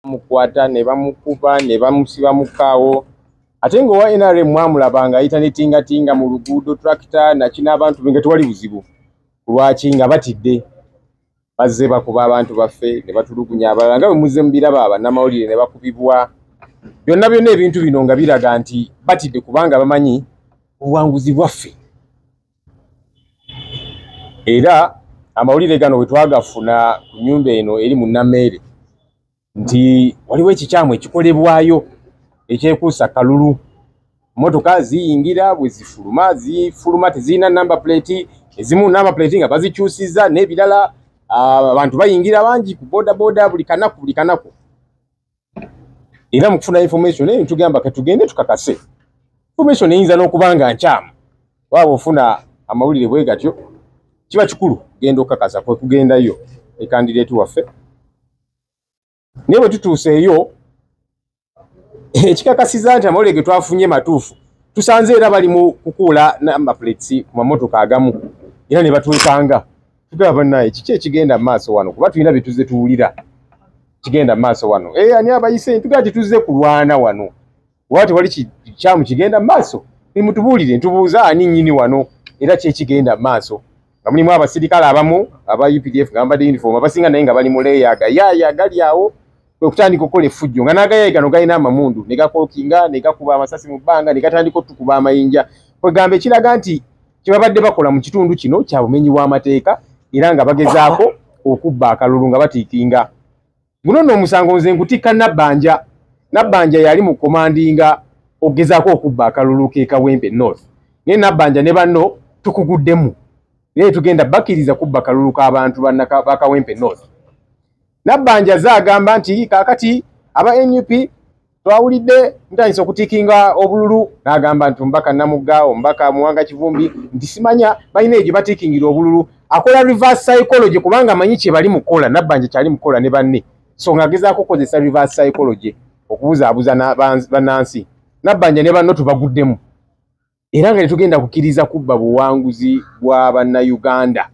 bamukwata ne bamukuba ne bamusiba mu kaawo ate nga owa nrm mwamulaba nga ayita ne tingatinga mu luguudo tracta naki n'abantu be nga tewali buzibu kulwaki nga batidde bazze bakuba abantu baffe ne batulugunya abalala nga bwe muzze mubiraba bannamawulire ne bakubibwa byonna byonna ebintu bino nga biraga nti batidde kubanga bamanyi obuwanguzi bwaffe era amawulire gano wetwagafuna ku nyumba eno eri mu nameere nti waliwo ekikyamu ekikolebwayo ekyekuusa kalulu motoka ziyingira bwezifuluma zifuluma tezirina number plate ezimu number plate nga bazikyusiza n'ebirala abantu bayingira bangi ku bodaboda buli kanaku buli kanaku era mukufuna information eyo tugamba katugende tukakase information eyinza n'okuba nga nkyamu waaba ofuna amawulire bwe gatyo kiba kikulu genda okukakasa kwe kugendayo e kandideeti waffe naye bwe tutuuseeyo ekikakasiza nti amawulire ge twafunye matuufu tusanze era bali mu kukuula namba plates ku mamotoka agamu era ne batwekanga tugaba bannaye kiki ekigenda mu maaso wano kuba tulina bye tuzze tuwulira kigenda mu maaso wano e ani abayise ntugaba tetuzze kulwana wano oba tewali kikyamu kigenda mu maaso nimutubuulire ntubuuza ani nnyini wano era kyekigenda mu maaso nga mulimu abasirikale abamu aba updf nga bambadde uniform abasinga naye nga bali mu leeya agayaaya gali awo kwe kutandika okukola effujjo nga n'agayaaya gano galina amamundu ne gakokinga ne gakuba amasasi mu bbanga ne gatandika otukuba amayinja kwegamba ekiraga nti kyebabadde bakola mu kitundu kino kya bumenyi bw'amateeka era nga bagezaako okubba akalulu nga batiikinga guno nno omusango nze nkutikka nabbanja nabbanja yali mu komandinga okugezaako okubba akalulu kekawempe north naye nabbanja ne banno tukuguddemu naye tugenda bakiriza kubba kalulu k'abantu bakawempe north nabbanja ze agamba nti kakati aba nup twawulidde ntandise okutikinga obululu n'agamba nti omubaka namugga omubaka muwanga kivumbi nti simanya balina egyo batikingira obululu akola reverse psychology kubanga amanyi kyebali mukukola nabbanja kyali mukukola ne banne so ng'agezaako okukozesa reverse psychology okubuzaabuza bannansi nabbanja ne banno tubaguddemu era nga tetugenda kukkiriza kubba buwanguzi bwa bannayuganda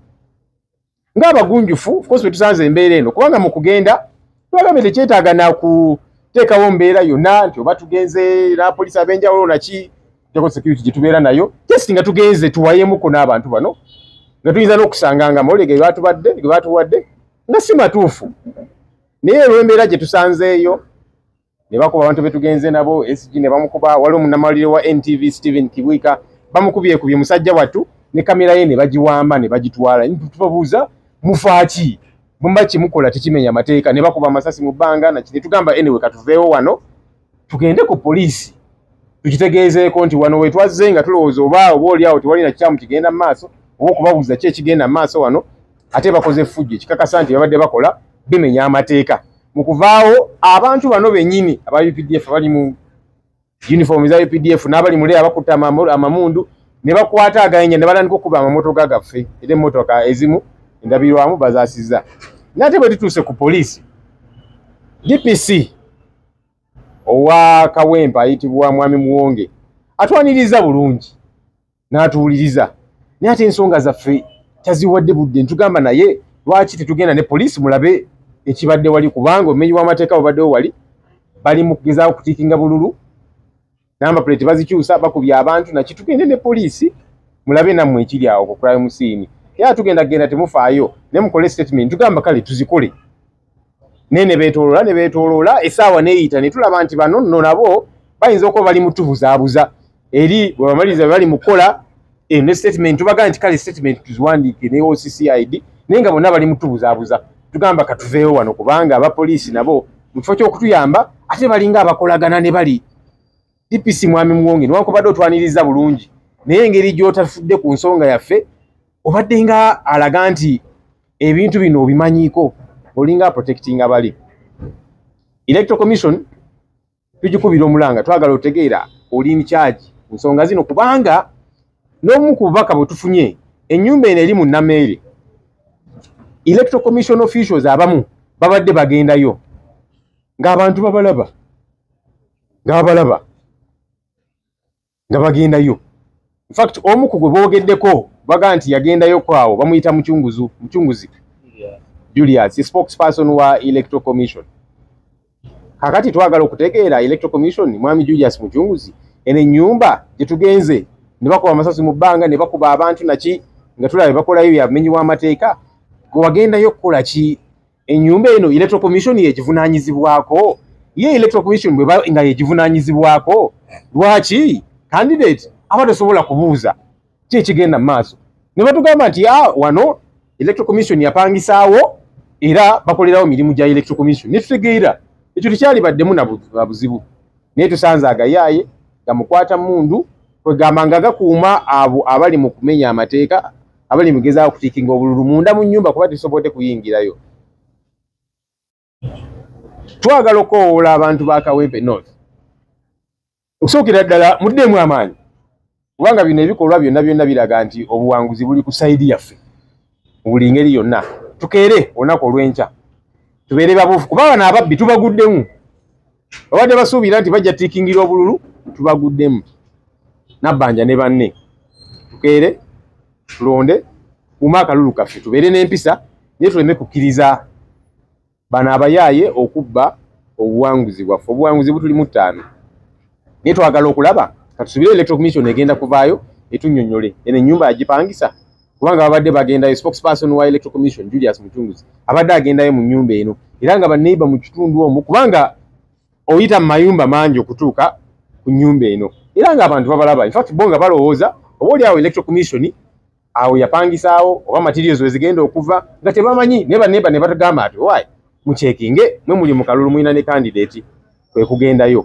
ng'abagunjufu ofcourse bwe tusanze embeera eno kubanga mu kugenda twagambye tekyetaaga nakuteekawo mbeera yonna nti oba tugenze napolisi ab'enjawulo naki jako security gye tubeera nayo just nga tugenze tuwayemuko n'abantu bano nga tuyinza n'okusanga nga mawulire ge batubadde ge batuwadde nga si matuufu naye olw'embeera gye tusanzeeyo ne bakuba abantu be tugenze nabo SG ne bamukuba wali omunamawulire wa NTV Steven Kibwika bamukubye kubye musajja wattu ne kamera ye ne bagiwamba ne bagitwala tubabuuza mufaaki mumba kimukola tekimenya amateeka ne bakuba amasasi mu bbanga naki ne tugamba anyway katuveewo wano tugende ku poliisi tukitegeezeeko nti wano wetwazze nga tulowooza oba oba oli awo tewali na kikyamu kigenda mu maaso oba okubabuuza ki ekigenda mu maaso wano ate bakoze effujjo ekikakasa nti babadde bakola bimenya amateeka mu kuvaawo abantu bano benyini aba updf abali mu uniform za updf n'abali mule abakutte amamundu ne bakwata agayinja ne batandika okukuba amamotoka gaffe era emmotoka ezimu endabirwamu bazasizza nate bwe tutuuse ku poliisi dpc owa kawempa ayitibwa mwami muwonge atwaniriza bulungi n'atuwuliriza naye ate ensonga zaffe taziwadde budde ntugamba naye lwaki tetugenda ne poliisi mulabe ekibadde wali kubanga omumenyi w'amateeka babaddewo wali bali mu kugezaako kutiikinga bululu namba puleti bazikyusa bakubya abantu naki tugende ne poliisi mulabe nammwe ekiri awo ku crime scene era tugenda kugenda temufaayo naye mukole statement tugamba kale tuzikole naye ne beetooloola ne beetooloola essaawa neeyita ne tulaba nti bano nno nabo bayinza okuba bali mutubuzaabuza eri bwebamaliriza bali mukukola eh, ne statement tubagaa nti kale statement tuziwandiike ne occid naye nga bonna bali mutubuzaabuza tugamba katuveewo wano kubanga abapoliisi nabo mu kifo ky'okutuyamba ate balinga abakolagana ne bali DPC Mwami Muwonge newankubadde otwaniriza bulungi naye engeri gy'otafudde ku nsonga yaffe obadde nga alaga nti ebintu bino obimanyiiko olinga protecting abali electro commission tugikubira omulanga twagala otegeera oli nkyagi ku nsonga zino kubanga n'omu ku bubaka bwe tufunye ennyumba eno eri mu nameere electro commission officials abamu babadde bagendayo ng'abantu babalaba ng'abalaba nga bagendayo infact omu ku gwe boogeddeko baga nti yagendayo kwawo bamuyita mucunguzu mucunguzi julius spokesperson wa electoral commission kakati twagala okutegeera electoral commission mwami julius mucunguzi eno ennyumba gye tugenze ne bakuba amasasi mu bbanga ne bakuba abantu naki nga tulaba bakolayo byamenyi w'amateeka gwe wagendayo okukola ki enyumba eno electoral commission yegivunanyizibwako ye electoral commission bweba nga yegivunanyizibwako lwaki candidate aba tasobola kubuuza ki ekigenda mu maaso ne batugamba nti a wano electoral commission yapangisaawo era bakolerawo mirimu gya electoral commission ne tutegeera ekyo tekyalibaddemu na buzibu naye tusanze agayaaye gamukwata mundu kwegamba nga gakuuma abo abali mu kumenya amateeka abali mugeza okutikinga obululu munda mu nyumba kuba tisobode kuyingirayo twagala okowoola abantu ba kawempe north okusookera ddala muddeemu amaanyi kubanga bino ebikolwa byonna byonna biraga nti obuwanguzi buli ku saidi yaffe mu buli ngeri yonna tukeere olunaku olw'enkya tubeere babuufu kuba bano ababbi tubaguddemu babadde basuubira nti bajja tikingira obululu tubaguddemu nabbanja ne banne tukeere tulonde kuuma akalulu kaffe tubeere n'empisa naye tuleme kukkiriza bano abayaaye okubba obuwanguzi bwaffe obuwanguzi butuli mu ttaano naye twagala okulaba katusubire electro commission egenda kuvaayo etunyonyole eno enyumba yagipangisa kubanga babadde bagendayo spokesperson wa electoral commission julius mucunguzi abadde agendayo mu nyumba eno era nga baneighbor mu kitundu omu kubanga oyita mu mayumba mangi okutuuka ku nyumba eno era nga abantu babalaba infact bo nga balowooza oba oli awo electoral commission awo yapangisaawo oba materials wezigenda okuva nga tebamanyi naye baneighbor ne batugamba ati owaye mucekinge mwe muli mu kalulu mulina ne candidate kwe kugendayo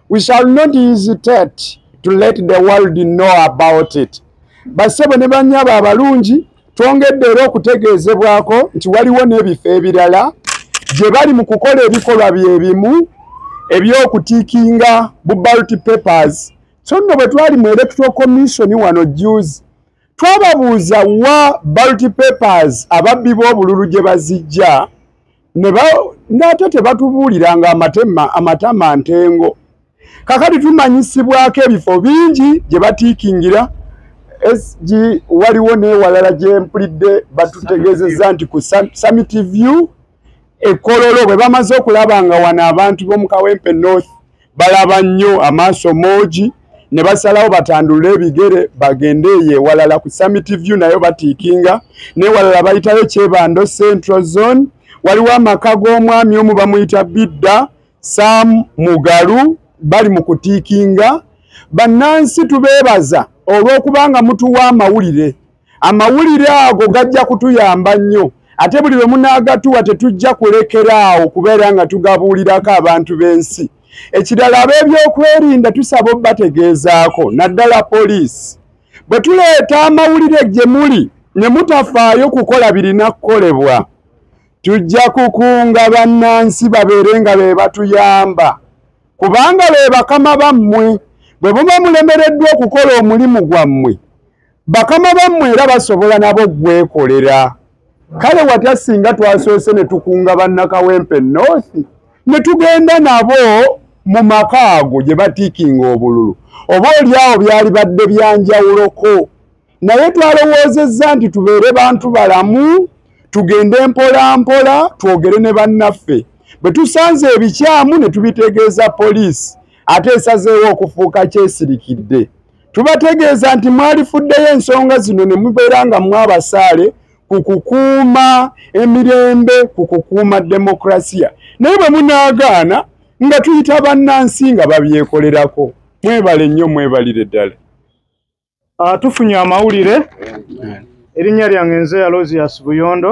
we shall not hesitate to let the world know about it basebo ne banyabo abalungi twongedde era okutegeezebwako nti waliwo n'ebifo ebirala gye bali mu kukola ebikolwa bye bimu eby'okutiikinga bu balt papers so nno bwe twali mu electoral commission wano juzi twababuuza wa balt papers ababbi b'obululu gye bazijja nate tebatubuuliranga amatama ntengo kakati tumanyisibwako ebifo bingi gye batiikingira sg waliwo newalala gyempulidde batutegeezezza nti ku summit view ekololo bwe bamaze okulaba nga wano abantu b'omukawempe north balaba nnyo amaaso moogi ne basalawo batandulule ebigere bagende eyo ewalala ku summit view nayo batiikinga newalala bayitayo kyebando central zone waliwo amaka g'omwami omu bamuyita bidda sam mugalu bali mu kutiikinga bannansi tubeebaza olw'okubanga mutuwa amawulire amawulire ago gajja kutuyamba nnyo ate buli lwe munaagatuwa tetujja kulekera awo kubeera nga tugabuulirako abantu b'ensi ekirala ab'ebyokwerinda tusaba obategeezaako naddala poliisi bwe tuleeta amawulire gye muli ne mutafaayo kukola birina kukolebwa tujja kukunga bannansi babeere nga be batuyamba kubanga be bakama bammwe bwe muba mulemereddwa okukola omulimu gwammwe bakama bammwe era basobola nabo okwekolera kale watya singa twasoose ne tukunga bannakawempe north ne tugenda nabo mu maka ago gye batiikinga obululu oba oli awo byali badde byanjawuloko naye twalowoozezza nti tubeere bantu balamu tugende mpola mpola twogere ne bannaffe bwe tusanze ebikyamu ne tubitegeeza poliisi ate esazeewo okufuuka kyesirikidde tubategeeza nti mwalifuddeyo ensonga zino ne mubeera nga mwabasaale ku kukuuma emirembe ku kukuuma demokrasiya naye bwe munaagaana nga tuyita bannansi nga babyekolerako mwebale nnyo mwebalire ddala ah, tufunye amawulire erinnya lyange nze yalozi yasibuyondo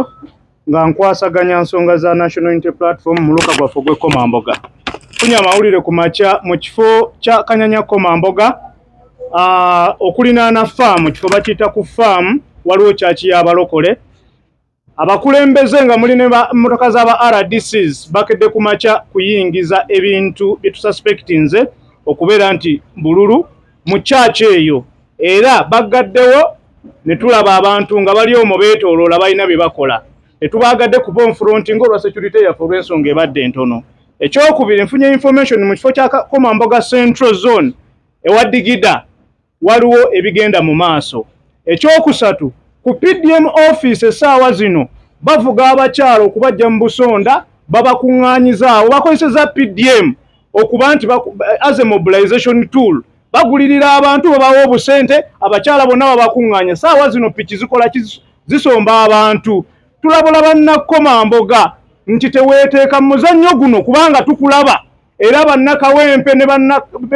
nga nkwasaganya nsonga za national unity platform muluka gwaffe ogwekomamboga funya amawulire ku makya mu kifo kya kanyanya komamboga ah, okulinaana faamu kifo bakiyita ku faamu waliwo kyaki yabalokole abakulembeze nga muli nemotoka zaba rdcs bakedde ku makya kuyingiza ebintu byetususpectinze okubeera nti bululu mu kyaki eyo era baggaddewo ne tulaba abantu nga bali omwo beetooloola balina bye bakola tetubaagadde kuba onfronti ngaolwa security yaffe olw'ensonga ebadde entono ekyokubiri nfunye information mu kifo kya komamboga central zone ewa digida waliwo ebigenda mu maaso ekyokusatu ku pdm office essaawa zino bavuga abakyalo okubajja mu busonda babakuŋŋaanyizaawo bakozeseza pdm okuba nti as a mobilization tool bagulirira abantu babawa obusente abakyala bonna babakuŋŋaanya saawa zino piki zikola zisomba abantu tulabula bannakoma mboga nti teweeteeka mu muzannyo guno kubanga tukulaba era bannakawempe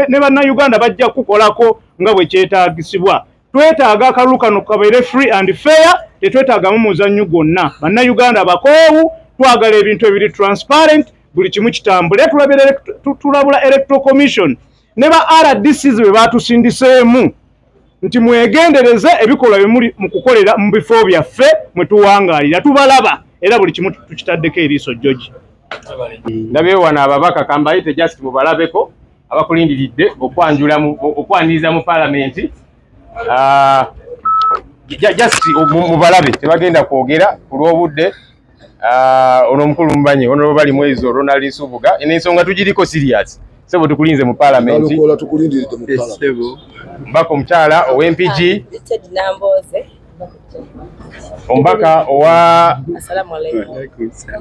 ne bannayuganda bajja kukukolako nga bwe kyetaagisibwa twetaaga akalulu kano kabeere free and fair tetwetaagamu muzannyo gwonna bannayuganda abakoowu twagala ebintu ebiri transparent buli kimu kitambule tulabula electoral commission ne ba rdcs be batusindiseemu nti mwegendereze ebikolwa bimuli mu kukolera mu bifo byaffe mwe tuwangaalira tubalaba era buli kimu tukitaddeko eriiso joji ndabeewana ababaka kambayite just mubalabeko abakulindiridde okwanjula okwaniriza mu palamenti ah, just mubalabe tebagenda kwogera ku lw'obudde ah, ono omukulu mubanyi ono lwobali mwezi ronald nsubuga nensonga tugiriko serious sebo tukulinze mu palamenti mbaka omukyala ow'empigi omubaka owa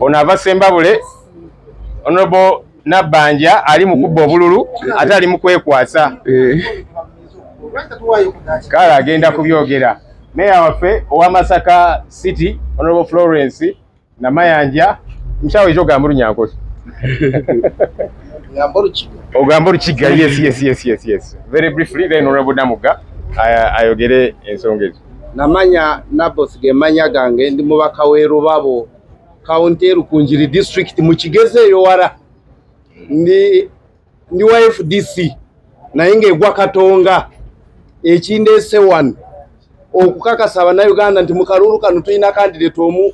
ono ava sembabule onobo nabbanja ali mu kubba obululu ate ali mu kwekwasa eh. kale agenda kubyogera meeya waffe owa masaka city honorable florence namayanja mukyawo ekyo ogamba olunyankoti ogamba olukiga yes yes yes yes yes very briefly then honorable namuga ayogere ensonga ezo namanya nabos gemanya gange ndi mubaka w'erubabo kawunti erukunjiri disitulikiti mu kigezi eyowala ndi ndi wa fdc naye ng'egwa katonga ekindeese wano okukakasa abannayuganda nti mu kalulu kano tulina kandideeti omu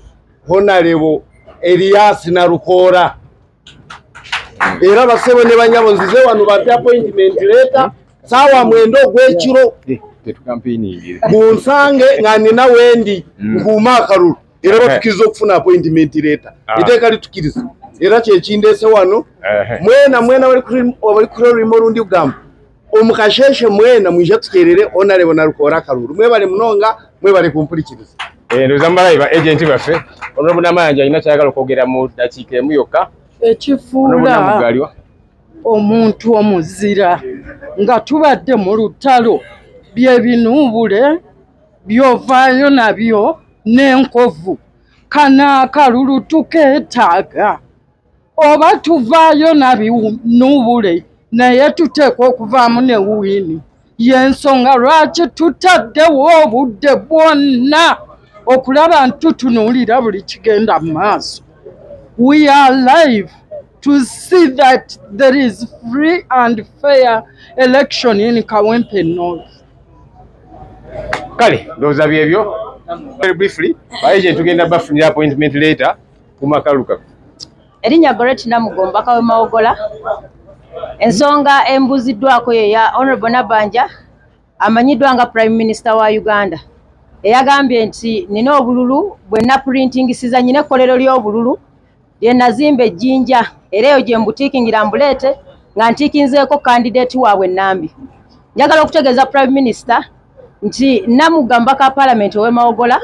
honalebo eriyasi nalukoora era basebo ne banyabo nzize wano bampe appointment leeta saawa mwenda ogw'ekiro eh, eh, bunsange nga nina wendi mm. nkuuma akalulu era batukiriza okufuna appointment leeta ah. eteeka litukiriza era kyekindeese wano mwena mwena bali kurima olundi kugamba omukasheshe mwena mwija tuterere onalebo nalukoora akalulu mwebale munonga mwebale kumpurikiriza eh, ndoza mubalayi ba agenti baffe onobu namayanja alina kyayagala okwogera mu dakiika emu yokka ekifuula omuntu omuzira nga tubadde mu lutalo byebinuubule byovaayo nabyo n'enkovu kanaakalulu tukeetaaga oba tuvaayo nabinuubule naye tuteekwa okuvaamu ne wiini y'ensonga lwaki tutaddewo obudde bwonna okulaba nti tutunuulira buli kigenda mu maaso we are live to see that there is free and fair election in kawempe north kale ndowooza byebyo very briefly baye kyetugenda bafunira appointment later kumakaluka erinnya goret namugomba kawe mawogola ensonga embuziddwako yeya honorable nabanja amanyiddwa nga prime minister wa uganda eyagambye nti nina obululu bwenna printingisiza nyina ekkolero ly'obululu Ye nazimba ejjinja era eyo gye mbutiikingira mbuleete nga ntiikinzeeko kandideeti waabwe Nambi. Njagala okutegeeza Prime Minister nti Namugga mubaka wa Palamenti ow'e Mawogola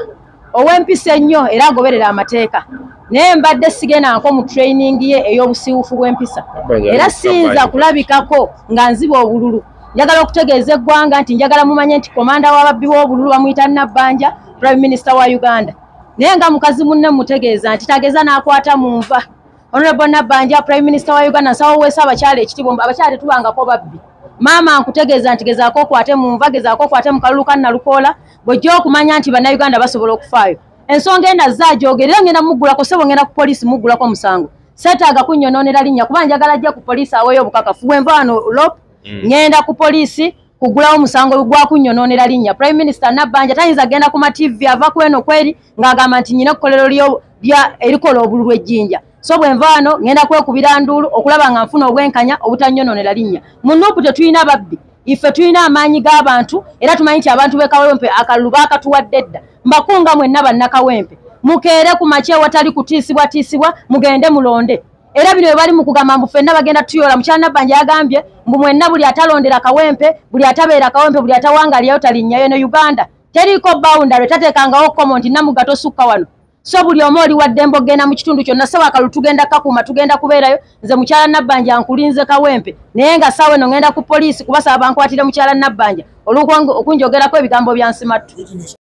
ow'empisa ennyo era agoberera amateeka naye mbadde sigendanko mu training ye ey'obusiiwufu bw'empisa era siyinza kulabikako nga nziba obululu njagala okutegeeza eggwanga nti njagala mumanye nti komanda w'ababbi w'obululu bamuyita Nabbanja Prime Minister wa Uganda. naye nga mukazi munne mutegeeza nti tageza n'akwata mu nva honorable nabbanja prime minister wa uganda nsawo weesa abakyala ekitiibwa abakyala tetubangako babbi maama nkutegeeza nti gezaako okwate mu nva gezaako okwate mu kalulu kannalukoola bwojja okumanya nti bannayuganda basobola okufaayo ensonga enda zaajoogera era ngenda muggulako sebo ngenda ku poliisi muggulako omusango seetaaga kunnyonoonera linnya kuba njagala ajja ku poliisi aweeyo obukakafu bwenva wano lop mm. ngenda ku poliisi kugulawo musango gwakunyononera linnya prime minister nabbanja tayinza genda ku mativi ava kweno kweri ng'agamba nti nyina ekkolero erikola obulu lw'ejjinja so bwe nva wano ŋenda kwekubira nduulu okulaba nga nfuna obwenkanya obutanyononera linnya mu nuupu tetulina babbi ife tulina amaanyi g'abantu era tumanyi nti abantu b'ekawempe akalulu baakatuwadde dda mbakunga mwenna bannakawempe mukeere ku makya ewatali kutiisibwatiisibwa mugende mulonde era bino bali mu kugamba mbu fenna bagenda tuyola mukyala nabbanja yagambye mbu mwenna buli atalondera kawempe buli atabeera kawempe buli atawangalyayo talinnyayo ne uganda teriiko boundary tateekangawo komo nti namugga tosukka wano so buli omu oli waddembe okugenda mu kitundu kyonna sawa kalu tugenda kakuuma tugenda kubeerayo nze mukyala nabbanja nkulinze kawempe naye nga saawa eno ngenda ku poliisi kubasaba bankwatire mukyala nabbanja olwokunjogerako ebigambo byansimattu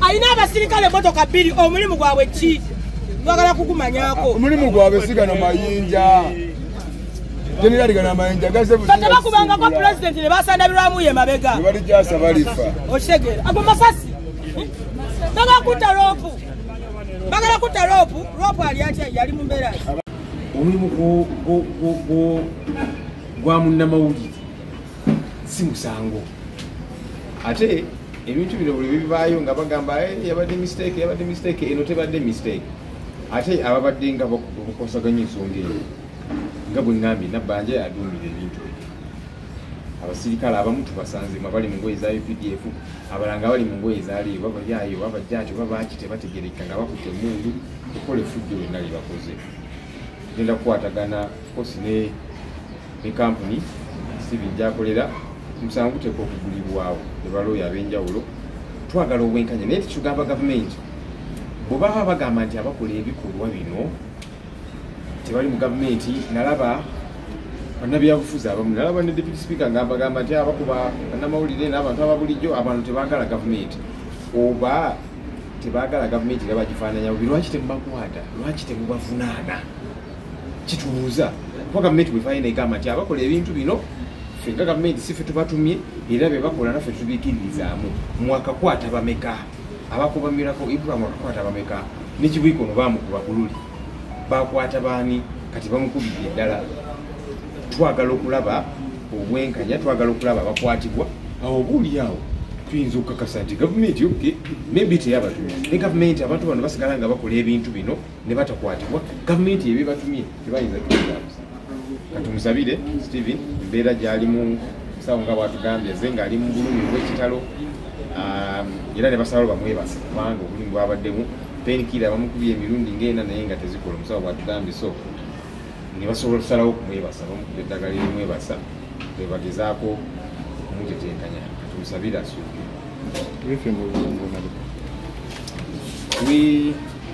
alina abasirikale emotoka bbiri omulimu gwabwe ki bagala kukumanyako omulimu gwabwe sigano mayinja tebakubangaku pulezidenti nebasandabirwamu ye mabega okitegeera ago masasi bagakutta loopu bagala kutta loopu loopu ali atya yali mu mbeera omulimu gwa munnamawulire si musango ate ebintu bino buli bibaayo nga bagamba eh, yabadde mistake yabadde mistake eno tebadde mistake ate ababadde nga bakosaganya ensonga eyo nga bwe ŋambye nabbanja yaduumira ebintu ebyo abasirikale abamu tubasanze mabali mu ngoye za updf abalanga bali mu ngoye zaliyo babayayo babajjaati oba baaki tebategerekka nga bakutte emundu okukola efujjo lyonna lye bakoze genda kukwatagana kosi ne ne kampuni steven gyakolera omusango guteekwa okugulibwawo ne balooya ab'enjawulo twagala obwenkanya naye tikigamba gavumenti bwebaba bagamba nti abakola ebikolwa bino tebali mu gavumenti nalaba banabyabufuzi abamu nalaba ne deputy speaker nga bagamba nti abakuba banamawulire n'abantu ababulijjo abantu tebagala gavumenti oba tebagala gavumenti era bagifaananyabubi lwaki temubakwata lwaki temubavunaana kitubuuza kuba gavumenti bwevayo negamba nti abakola ebintu bino fe nga gavumenti si fe tubatumye era bebakola naffe tubikiririzaamu mwakakwata bameka abakubamirako ibrahim akakwata bameka nekibwiko no bamukuba bululi bakwata baani kati bamukubidde eddala twagala okulaba obwenkanya twagala okulaba abakwatibwa awo obuuliawo tuyinza okukakasa nti gavumenti yoke maybe teyabatumya ne gavumenti abantu bano basigala nga bakola ebintu bino ne batakwatibwa gavumenti ebe batumye tebayinza kutulabuza katumusabire steven embeera gyalimu sawo nga bwatugambye ze ng'ali mu bulumi bw'ekitalo um, era ne basalawo bamwebasa kubanga obulumi bwabaddemu penkira bamukubye emirundi ngaena naye nga tezikola omusawo bwatugambye so ne basobola okusalawo okumwebasa bamukubye eddagala erimwebasa bebagezaako okumutetenkanya katumusabire asuuke We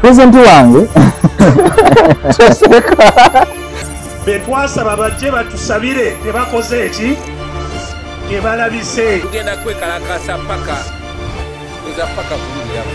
pulezidenti wange betwasaba bajje batusabire tebakoze eki tebalabise tugenda kwekalakasa paka eza paka kuluyamu